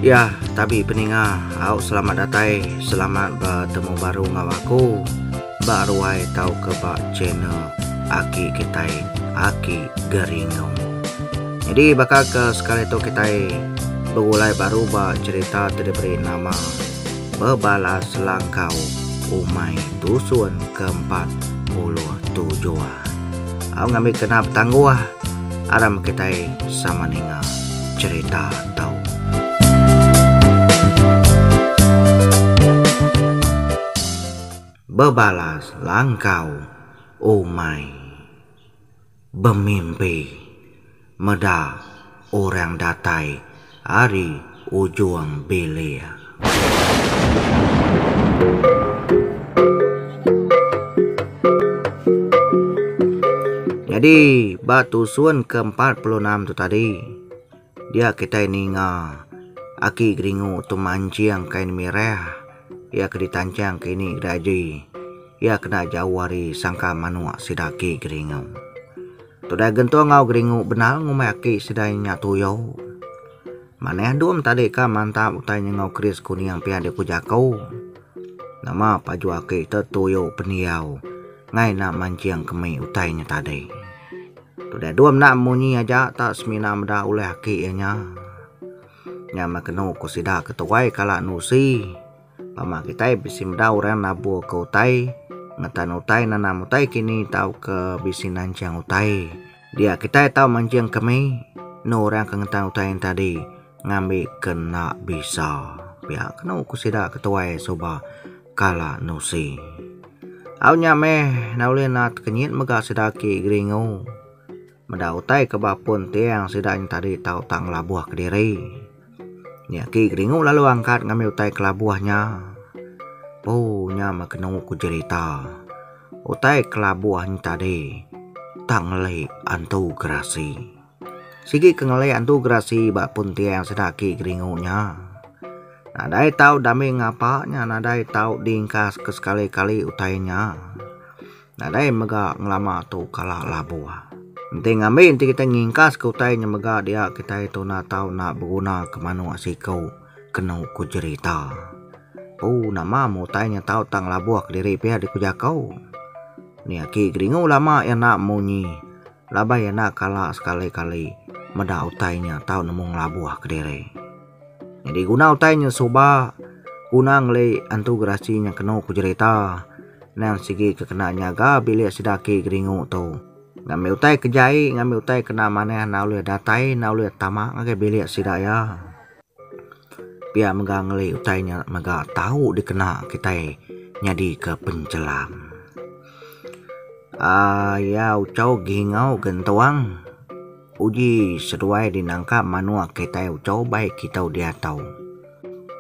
Ya, tabi peninga, au selamat datai, selamat betemu baru enggau aku ba ruai tauka ba channel Aki Kitai, Aki Geringung. Jadi baka ke sekali tu kitai begulai baru ba cherita ti diberi nama bebala selangkau umai dusun ke empat puluh tu jua. Au ngambi kena betangguh aram kitai sama ninga cherita tu. Bebala selangkau umai. Bemimpi. Meda orang datai ari ujung bilik. Nyadi ba tusun ke empat puluh enam tu tadi dia kitai ninga aki geringu tu manching kain mirah iya ke ditanchang ke ini ke dagi. Iya kena jauh ari sangka manuk sida aki Geringu. Tudai Gentung enggau Geringu bendar ngumbai aki sida inya Tuyo. Manah Dum tadi ka mantap utai nyengau keris kuning pia diku jaku. Nama paju aki te Tuyo pendiau ngai enda manching kemi utai nya tadi. Tudai Dum enda munyi aja tak semina meda ulih aki iya nya. Nya meh kenu ku sida ke tuai kala endu usi. Mama kitai bisi meda orang naburka utai, ngetan utai, nanam utai kini tauka bisi nanjang utai. Dia kitai tau manjingka mih enu orang ke ngetan utai nya tadi ngambika enda bisa. Pia kenu ku sida ke tuai suba kala nusi. Au nya meh enda ulih naat ke nyin mega sida agi geringu. Meda utai ke ba pun tiang sida nyentadi tau tak ngelabuh kediri. Nya aki geringu lalu angkat ngambi utai kelabuh nya. Poo nya meh kenu ku jerita. Utai kelabuh nyentadi tak ngelik antu gerasi. Sigi ke ngelik antu gerasi ba pun tiang sida aki geringu nya. Nadai tau dame ngapa nya nadai tau diingkas ke sekali kali utai nya. Nadai mega ngelama tu kala labu. Enti ngambi enti kitai ngingkaska utai nya mega dia kitai tuna tau enda begunaka manuk siku kenu ku jerita. Pu nama meh utai nya tau tak ngelabuh kediri pia deh ku jaku. Nya agi geringu lama iya enda munyi laban iya enda kala sekali-kali meda utai nya tau nemu ngelabuh kediri. Nyadi guna utai nya suba guna ngeli antu gerasi nya kenu pejerita endang sigi ke kena nyaga bilik sida agi geringu tu. Ngambi utai ke jai ngambi utai ke kena manah enda ulih datai enda ulih tama ngagai bilik sida iya. Pia mega ngeli utai nya mega tau dikena kitai nyadi ke penchelam. Aa iya uchaw gingau gentuang. Uji seduai dinangka manuk kitai uco bai kitou diatou.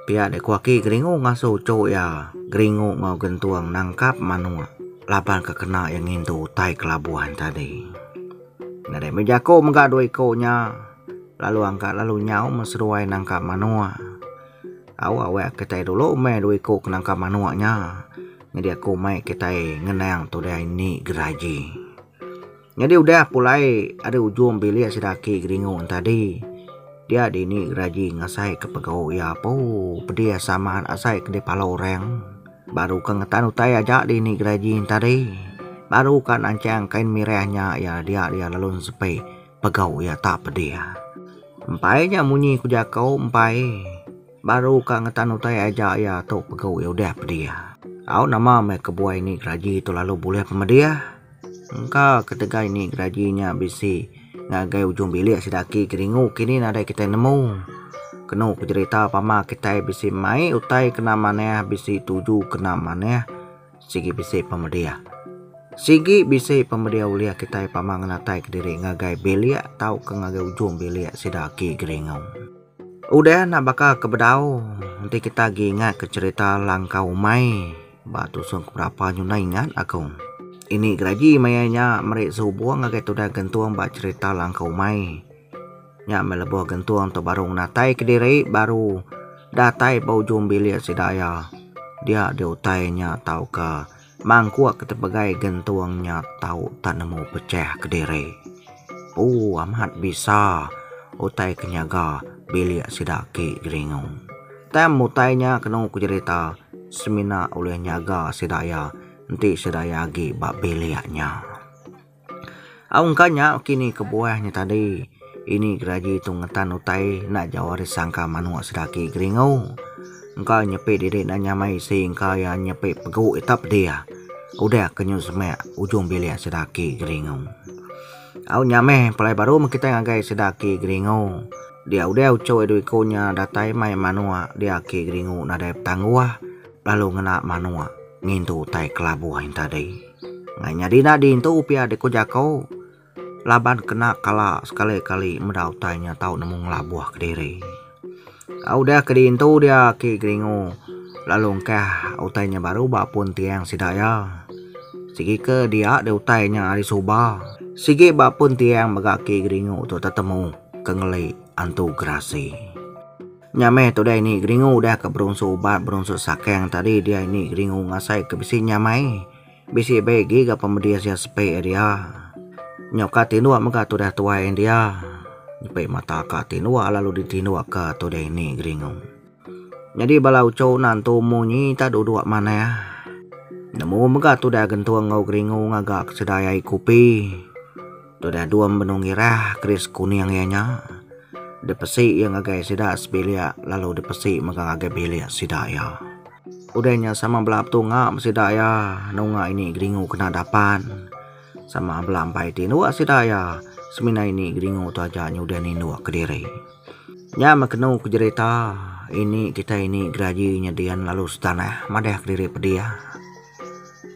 Pia dei ku aki Geringu ngasuh uco iya, Geringu enggau Gentung nangkap manuk laban ke kena iya ngintu utai kelabuan tadi. Nadai meh jako mega dua iko nya lalu angka lalu nyau men seduai nangkap manuk. Au awek kitai dulu meh dua iko ke nangkap manuk nya nyadi aku mai kitai ngenang tudai indi geraji. Nyadi udah pulai ari ujung bilik sida aki Geringu entadi. Dia dini geraji ngasai ke pegau iya apu pedis amat asai ke dipalo orang. Baru ke ngetan utai aja dini geraji entadi baru ka nanchang kain mirah nya iya dia dia lalu sepe pegau iya ta pedih. Empai nya munyi ku jaku empai baru ka ngetan utai aja iya tu pegau iya udah pedih. Au nama meh kebuai ni geraji tu lalu bulih pemedih. Engka ketegal ini geraji nya bisi ngagai ujung bilik sida aki keringu kini nadai kitai nemu. Kenu ku jerita pama kitai bisi mai utai kena manah bisi tuju kena manah sigi bisi pemedih. Sigi bisi pemedih ulih kitai pama ngenataika diri ngagai bilik tauka ngagai ujung bilik sida aki keringu. Udah enda baka ke bedau, enti kita agi ingatka cherita langkau umai ba tusung ke berapa nyu enda ingat aku. Ini geraji maya nya meri sehubung ngagai tudah gentung ba cherita langkau umai. Nya meh lebuh gentung tu baru ngenatai kediri baru datai ba ujung bilik sida iya. Dia diutai nya tauka. Mangkuk tepegai gentung nya tau tak nemu pechah kediri. Pu amat bisa utai ke nyaga bilik sida agi Geringu. Tang utai nya kenu ku jerita semina ulih nyaga sida iya enti sida iya agi ba bilik nya. Aung ka nya kini kebuah nya tadi ini geraji tu ngetan utai enda jauh ari sangka manuk sedaki geringu engka nyepi diri enda nyamai isi engka iya nyepi pegu ita pedih udah ke nyu semak ujung bilik sedaki geringu. Au nya meh palai baru meh kitai ngagai sedaki geringu dia udah uchu dua iku nya datai mai manuk diaki geringu nadai petangguh. lalu ngena manok ngintu utai kelabuh ain tadi. Ngai nyadi enda diintu pia dek ko jako laban kena kala sekali kali meda utai nya tau nemu ngelabuh kediri. Au deh ke diintu dia ake geringu lalu engkah utai nya baru ba pun tiang sida ia. Sigi ke dia dek utai nya ari suba sigi ba pun tiang mega ake geringu tu tetemu ke ngeli antu gerasi. Nya meh tu diani Geringu udah ke berunsu ubat berunsu sakang tadi diani Geringu ngasai ke bisi nyamai bisi be agi ga pemedis iya sepe dia nyau ka tinduk mega tudah tuai dia nyepe mata ka tinduk lalu ditinduk ka tu diani Geringu. Nyadi bala uchu nantu munyi ta duduk manah nemu mega tudah gentung enggau Geringu ngaga ke sida ai kupi. Tudah Dum benung irah keris kuning iya nya. Dipesi iya ngagai sida sebilik lalu dipesi mega ngagai bilik sida iya. Udah nya sama bela betunga ba sida iya nunga ini geringu kena dapan. Sama bela empai ti indu sida iya semina ini geringu tu aja nyudah nindu kediri. Nya meh kenu ke jerita ini kitai ini geraji nyedin lalu setanah madah kediri pedih.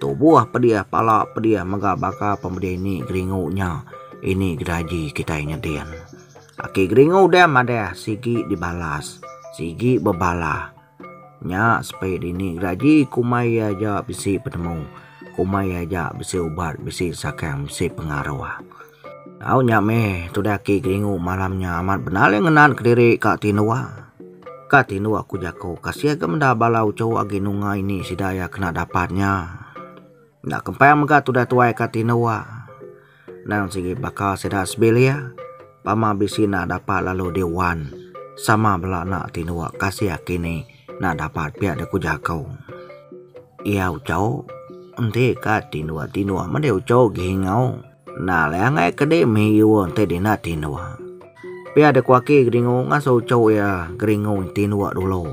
Tubuh pedih pala pedih mega baka pemedih ini Geringu nya ini geraji kitai nyedin. Aki Geringu deh madah sigi dibalas sigi bebalah. Nya sepe dini geraji kumbai iya aja bisi penemu, kumbai iya aja bisi ubat bisi sakang bisi pengaruh. Au nya meh tudah aki Geringu malam nya amat benalai ngenan kediri ka tindua. Ka tindua ku jaku ka sia ga meda bala uchu agi nunga ini sida iya kena dapat nya. Enda kempang mega tudah tuai ka tindua. Nang sigi baka sida sebilik pama bisi enda dapat lalu di wan sama bela anak tindua ka sia kini enda dapat pia deh ku jaku. Iya uchu enti ka tindua-tindua meh deh uchu Geringu. Enda alai angai ke dei mih iwa enti dina tinduk. Pia dek waki geringu ngasuh uchu iya geringu tinduk dulu.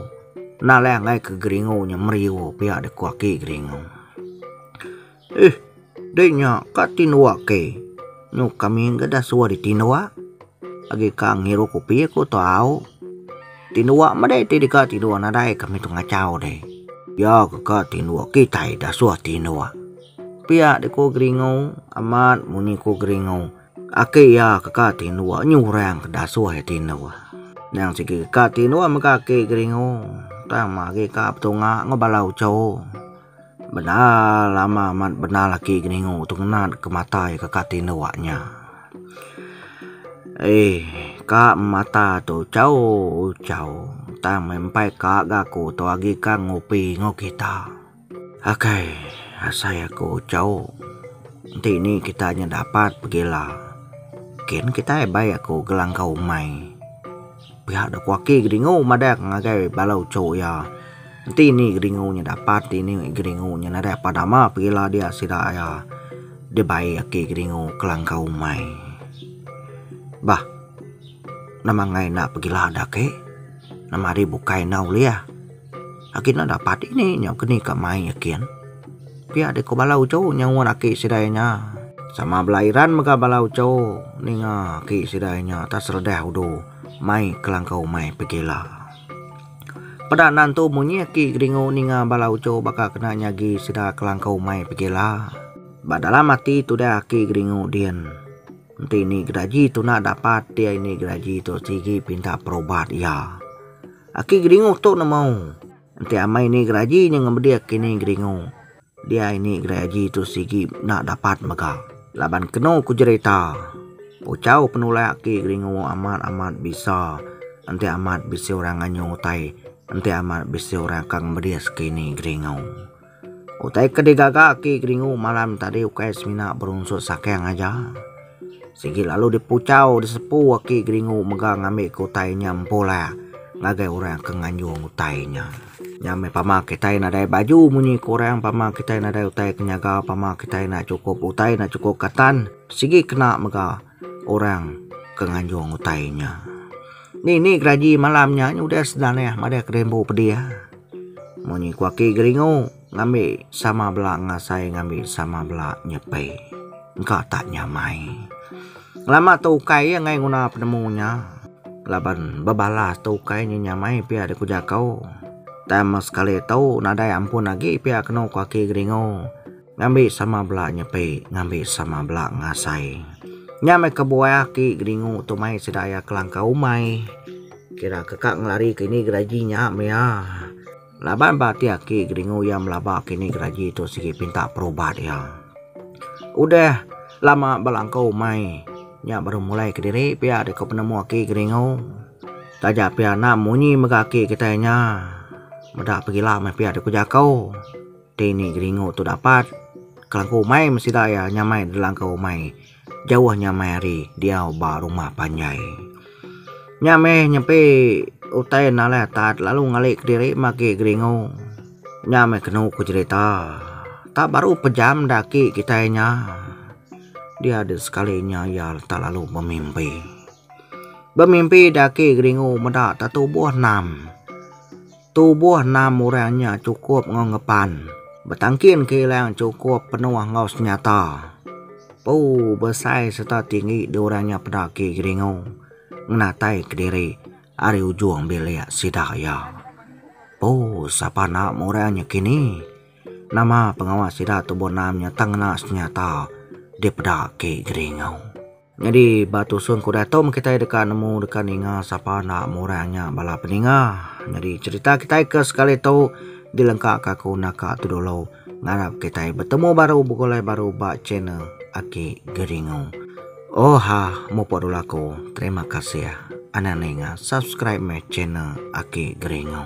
Enda alai angai ke geringu nya meri iwa pia dek waki geringu. Ih dei nya ka tinduk ke. Nyuk kami enggai dah suah ditinduk. Agi ka ngiru kopi aku tau. Tindua meda ti deka tindua nadai kami tu ngachau deh. Iya ke ka tindua kitai dah suah tindua. Pia deh ku Geringu amat munyi ku Geringu. Aki iya ke ka tindua nyi orang ke dah suah iya tindua. Nyang sigi ka tindua mega aki Geringu tang agi ka betunga enggau bala uchu. Bendar lama amat bendar laki geningu tu ngena deka mata iya ka kati enda wak nya. Eih ka mata tu chau chau tang meh empai ka ga ku tu agi ka ngupi enggau kita. Akai asai aku chau enti ni kita nyedapat pegila kin kitai bai aku gelangkau umai. Pia da kuaki Geringu madang ngagai bala uchu iya. Enti ini Geringu nya dapat ti ini Geringu nya nadai apat nama pegila dia sida iya. Dibai aki Geringu kelangkau umai. Bah nama angai enda pegila da ake. Nama ari bukai enda ulih. Agi enda dapat ini nyau ke ni ka mai nyikin. Pia deh ko bala uchu nyau ngan aki sidai nya. Sama bala Iran mega bala uchu ninga aki sidai nya tak seredah udu mai kelangkau mai pegila. Peda nan tu munyi aki geringu ninga bala uchu baka kena nyagi sida kelangkau mai pegila. Ba dalam ati tudah aki geringu din. Enti ni gedaji tu nak dapat, dia ini gedaji tu sigi pinta perubat iya. Aki Geringu tu nemu. Enti amai ini geraji nya ngemedi aki ini Geringu. Dia ini geraji tu sigi enda dapat mega. Laban kenu ku jerita, ucau penulai aki Geringu amat amat bisa enti amat bisi orang nganyu utai enti amat bisi orang ka ngemedi segi ini Geringu. Utai ke digaga aki Geringu malam tadi ukai semina berunsut saking aja. Sigi lalu dipuchau disepu aki Geringu mega ngambika utai nya empu lah ngagai orang ke nganjung utai nya. Nya meh pama kitai nadai baju munyi ke orang pama kitai nadai utai ke nyaga pama kitai enda chukup utai enda chukup ka tan sigi kena mega. orang ke nganjung utai nya. Ni ni geraji malam nya udah sedan neh madah kerimbu pedih. Munyi ku aki geringu ngambi sama bela ngasai ngambi sama bela nyepi. Engka tak nyamai. Lama tu ukai iya ngai nguna penemu nya laban bebalas tu ukai nya nyamai pia dek ku jaku. Tang sekali tu nadai ampun agi pia kenu ku aki geringu. Ngambi sama bela nyepi ngambi sama bela ngasai. Nya meh kebuah aki Geringu tu mai sida iya kelangkau umai. Kira ke ka ngelari ke ini geraji nya meh iya. Laban ba ati aki Geringu iya melaba ke ini geraji tu sigi pinta perubat iya. Udah lama belangkau umai nya baru mulai kediri pia deka penemu aki Geringu. Taja pia enda munyi mega aki kitai nya. Meda pegila meh pia deka jako. Dei ni geringu tu dapat. Kelangku umai meh sida iya nyamai delangkau umai. Jauh nyamai ari diau ba rumah panjai. Nya meh nyempi utai nalai atat lalu ngali kediri magi geringu. Nya meh kenu ku jerita. Tak baru pejam da aki kitai nya. Dia deh sekali nya iya tak lalu bemimpi. Bemimpi da aki geringu meda tak tubuh enam. Tubuh enam orang nya chukup enggau ngepan betangkin kilang chukup penuh enggau senyata. Pu besai sereta tinggi dua orang nya peda agi geringu ngenatai kediri ari ujung bilik sida iya. Pu sapa enda murang nyekini nama pengawa sida tubuh enam nya tang ngena senyata dipeda agi geringu. Nyadi ba tusung ku Datum kitai deka nemu deka ninga sapa enda murang nya bala peninga. Nyadi cherita kitai ke sekali tu dilengkaka ku naka tu dulu. Ngarap kitai betemu baru begulai baru ba channel Aki Geringu. Oha mupuk dulu aku. Terima kasih anang ninga subscribe meh channel Aki Geringu.